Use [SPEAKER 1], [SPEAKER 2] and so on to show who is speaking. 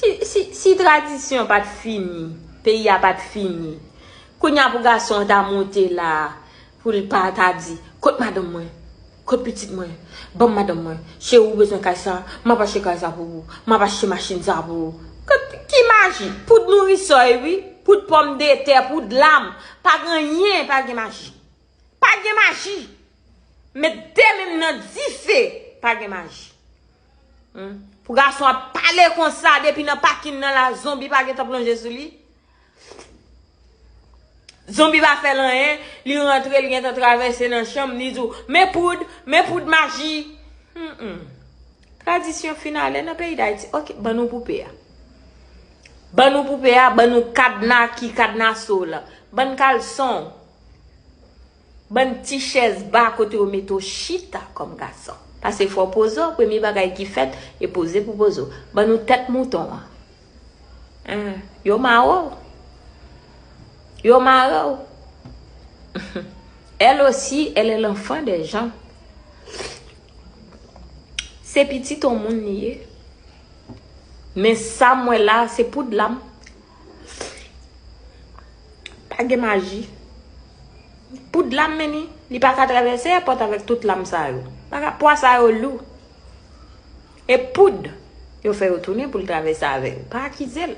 [SPEAKER 1] Si tradisyon pat fini, peyi a pat fini. Kounya pou gason an ta monte la a, pou l pa ta di, kot madanm mwen, kot pitit mwen, ban m madanm mwen, cheri ou bezwen kay sa, m ap achte kay sa pou ou, m ap achte machin sa pou ou. Ki maji? Poud nourisoy wi, poud pòmdetè, poud lam. Pa gen anyen, pa gen maji. Pa gen maji! Met de men m nan dife, pa gen maji. Pou gason ap pale konsa depi nan pakin nan la zonbi pa gentan plonje sou li. Zonbi pa fè l anyen, li rantre li gentan travèse nan chanm li di w men poud, men poud maji. Tradisyon fin ale nan peyi Dayiti. Ok, ban nou poupe a. Ban nou poupe a, ban nou kadna ki kadna sou w lan. Ban kalson w. Bann ti chèz ba kote yo mete w chita kòm gason. Pase fò pozo, premye bagay ki fèt, e poze pou pozo. Ban nou tèt mouton an. Ahh, yo mare w. Yo mare w. Elle aussi, elle est l'enfant des gens. Se pitit on moun li ye. Men sa m wè la, se poud la m. Pa gen maji. Poud la men ni. Li pa ka travèse e pòt avèk tout lam sa yo. Pa ka pwa sa yo lou. E poud yo fè yo tounen pou l travèse avè yo. Pa akize l.